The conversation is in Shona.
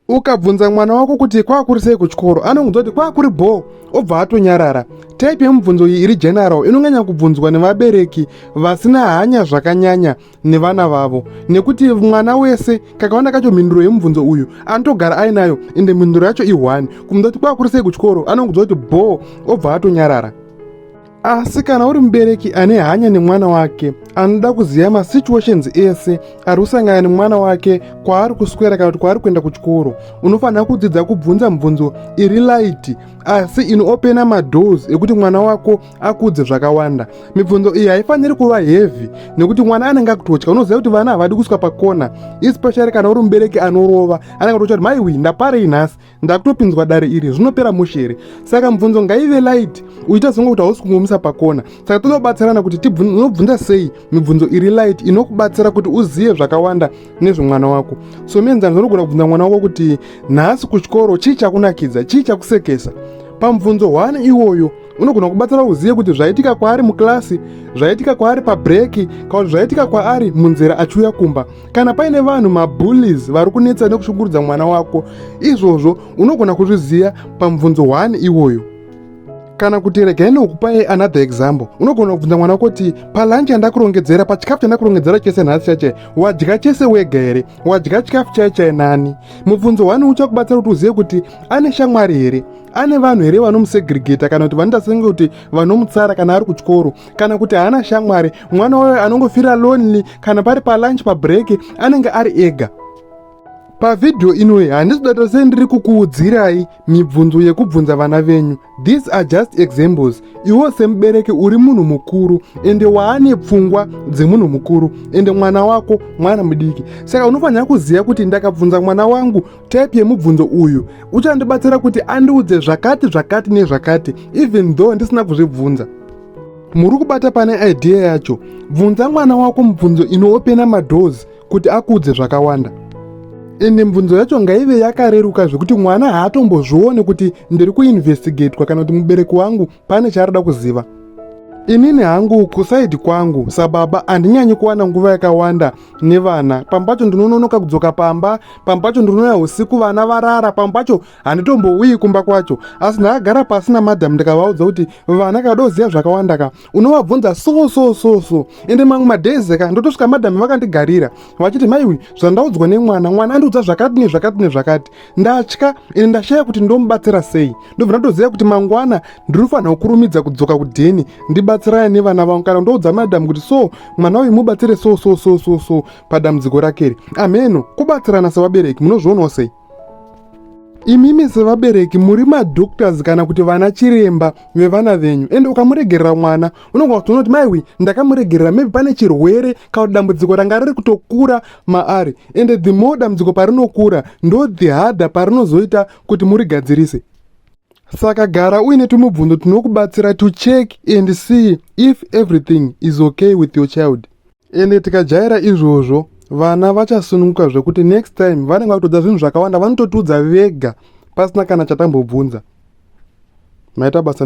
ukabvunza mwana wako kuti kwakuri sei kuchikoro anongonzwa kuti kwakuri bhoo obva atonyarara type yemubvunzo iyi iri general inonyanya kubvunzwa nevabereki vasina hanya zvakanyanya nevana vavo nekuti mwana wese kakawanda kacho mhinduro yemubvunzo uyu anotogara ainayo ende mhinduro yacho i1 kumunza kuti kwakuri sei kuchikoro anongonzwa kuti bhoo obva atonyarara asi kana uri mubereki ane hanya nemwana wake anoda kuziva masituations ese ari kusangana nemwana wake kwaari kuswera kana kuti kwaari kuenda kuchikoro unofanira kudzidza kubvunza mibvunzo iri light asi inoopena madoors ekuti mwana wako akudze zvakawanda mibvunzo iyi haifaniri kuva heavy nekuti mwana anenge akutotya unoziva kuti vana havadi kuswa pakona especially kana uri mubereki anorova anenge atotya kuti maiwi ndaparei nhasi ndakutopinzwa dare iri zvinopera mushe here saka mubvunzo ngaive light uchiita songe kuti hausi kungomisa pakona saka toda kubatsirana kuti unobvunza sei mibvunzo iri light inokubatsira kuti uzive zvakawanda nezvemwana wako so mienzaniso unogona kubvunza mwana wako kuti nhasi kuchikoro chii chakunakidza chii chakusekesa pamubvunzo hwani iwoyo unogona kubatsira uzive kuti zvaitika kwaari mukilasi zvaitika kwaari pabreaki kana kuti zvaitika kwaari munzira achiuya kumba kana paine vanhu mabullies vari kunetsa nekushungurudza mwana wako izvozvo unogona kuzviziva pamubvunzo 1 iwoyo kana kuti regai nokupai another example unogona kubvunza mwana wako kuti palanchi yandakurongedzera pachikafu chandakurongedzera chese nhasi chaichai wadya chese wega here wadya chikafu chaichai nani mubvunzo wani uchakubatsira kuti uzive kuti ane shamwari here ane vanhu here vanomusegregeta kana kuti vanoita senge kuti vanomutsara kana ari kuchikoro kana kuti haana shamwari mwana wayo anongofira lonely kana pari palunch pabreak anenge ari ega pavhidhiyo inoyi handisi data sei ndiri kukuudzirai mibvunzo yekubvunza vana venyu these are just examples iwo semubereki uri munhu mukuru ende waane pfungwa dzemunhu mukuru ende mwana wako mwana mudiki saka unofanira kuziva kuti ndakabvunza mwana wangu type yemubvunzo uyu uchandibatsira kuti andiudze zvakati zvakati nezvakati even though ndisina kuzvibvunza muri kubata pane idea yacho bvunza mwana wako mubvunzo inoopena madoors kuti akuudze zvakawanda ende mibvunzo yacho ngaive yakareruka zvekuti mwana haatombozvione kuti ndiri kuinvestigatwa kana kuti mubereki wangu pane chaarida kuziva inini hangu kusaidi kwangu sababa handinyanyi kuwana nguva yakawanda nevana pamwe pacho ndinononoka kudzoka pamba pamwe pacho ndinouya usiku vana varara pamwe pacho handitombouyi kumba kwacho asi ndakagara pasi namadham ndikavaudza kuti vana kadoziva zvakawanda ka unovabvunza so so so so ende mamwe madhezi ka ndotosvika madham vakandigarira vachiti maiwi zvandaudzwa nemwana mwana andiudza zvakati nezvakati nezvakati ndatya ende ndashaya kuti ndomubatsira sei ndobva ndatoziva kuti mangwana ndinofanira kukurumidza kudzoka kudheni ndibatsirane nevana vangu kana ndoudza madam kuti so mwana uyu mubatsire so so so so so padambudziko rakeri amheno kubatsirana sevabereki munozvionawo sei imimi sevabereki muri madoctors kana kuti vana chiremba vevana venyu ende ukamuregerera mwana unogona kutoona kuti maiwi ndakamuregerera maybe pane chirwere kana kuti dambudziko ranga riri kutokura maari ende the more dambudziko parinokura ndo the harder parinozoita kuti murigadzirise saka gara uine tumubvunzo tinokubatsira to check and see if everything is okay with your child ende tikajaira izvozvo vana vachasununguka zvekuti next time vanenge vakutodza zvinhu zvakawanda vanototiudza vega pasina kana chatambobvunza maita basa